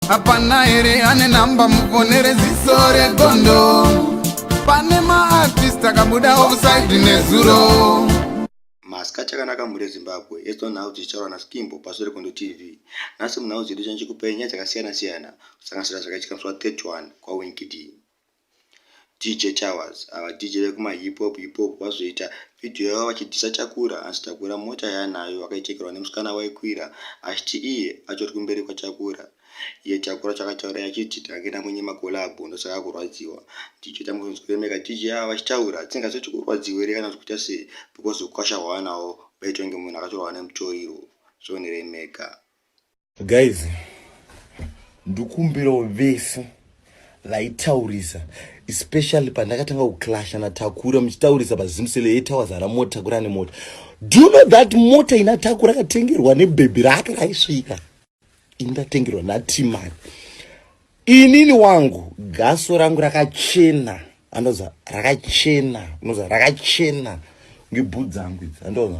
hapana here ane namba mufonere ziso regondo pane maartist akabuda offside nezuro masika chakanaka mhuri yezimbabwe yetwa nhau dzichitaurwa naskimbo pazuva regondo tv nhasi munhau dzedu chanchikupai nyaya dzakasiyana siyana kusanganisira zvakaitika musi wa 31 kwawinkidii DJ Towers ava DJ vekuma hip hop hip hop vazoita video yavo vachidhisa Takura hanzi Takura mota yaanayo akaichekerwa nemusikana waikwira achiti iye atori kumberi kwaTakura iye Takura chakataura yachiti tange namwenye makolabho ndosaka kurwadziwa DJ tambozonzwa kuremeka DJ ava vachitaura tisingazoti kurwadziwa here kana kuita sei because ukwasha hwaanawo baitwa ngemunhu akatorwa nemutoriro zvoniremeka Guys, ndikumbirawo vese vaitaurisa especially pandakatanga kuclasha natakura muchitaurisa pazimsele yetawas aramotakura nemota do you know that mota ina takura akatengerwa nebhebhi rake raisvika ini ndatengerwa natimari Inini wangu gaso rangu rakachena andoza rakachena unoza rakachena ngebhu dzangu idzi andoza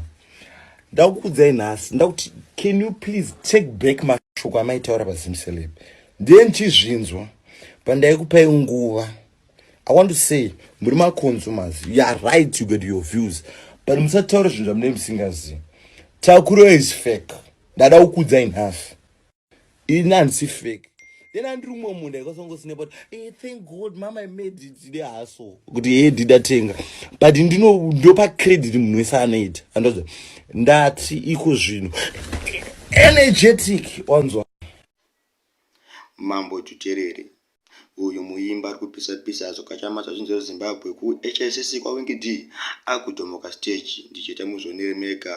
ndakukudzai nhasi ndakuti can you please take back mashoko amaitaura pazimseleb ndiye ndichizvinzwa pandaikupai nguva i want to say muri maconsumers you are right you get your views but musataura zvinhu zvamunei musingazivi takuro is fake ndada kukudzai nhasi ini handisi fake then andiri umwe munhu ndikasongosinepa kuti hey, eh, thank god mama imade tide haso kuti hee eh, ndidatenga but ndinopa credit munhu wese anoita andoza ndati iko zvinhu energetic wanzwa mambo tuterere Uyu muimba ari kupisa pisa hazvo kachama zvazvinzi zve Zimbabwe ku HICC kwa Winky D akudhomoka stage ndicheta muzvionere mega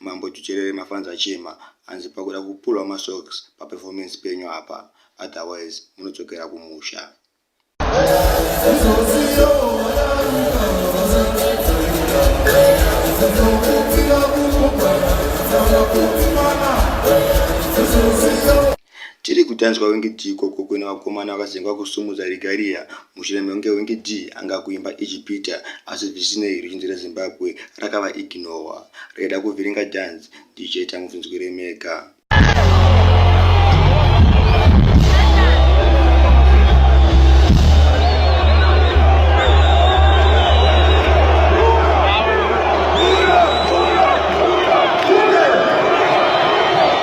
Mambo Tucherere mafans achema hanzi pakuda kupulwa ma socks pa performance penyu apa otherwise munodzokera kumusha. Tiri kutanzwa wenge Dee ikoko kuine vakomana vakazenge vakusumudza regalia mushure mekunge wenge Dee anga kuimba ijipita asi zvisinei ruzhinji reZimbabwe rakava ignowa raida kuvhiringa dance DJ Tangu zvinzwire mega.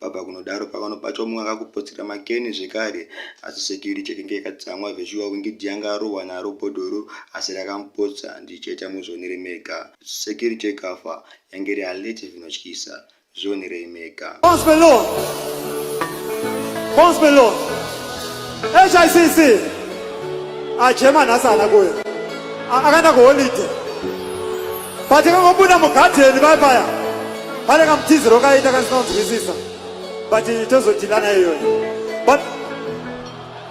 baba kunodaro pavano pacho mumwe akakupotsera makeni zvekare asi security yakenge yakatsamwa zveshuwa kunge janga arohwa naro bhodhoro asi rakamupotsa ndichaita muzvionere mega security ikafa yange iri alert zvinotyisa zvionerei nyika. Achema nhasi ana kuya akaenda kuholide patikangobuda mugadheni vai paya pane kamutiziro kaita kasinonzwisisa but tozodhilana iyoyo but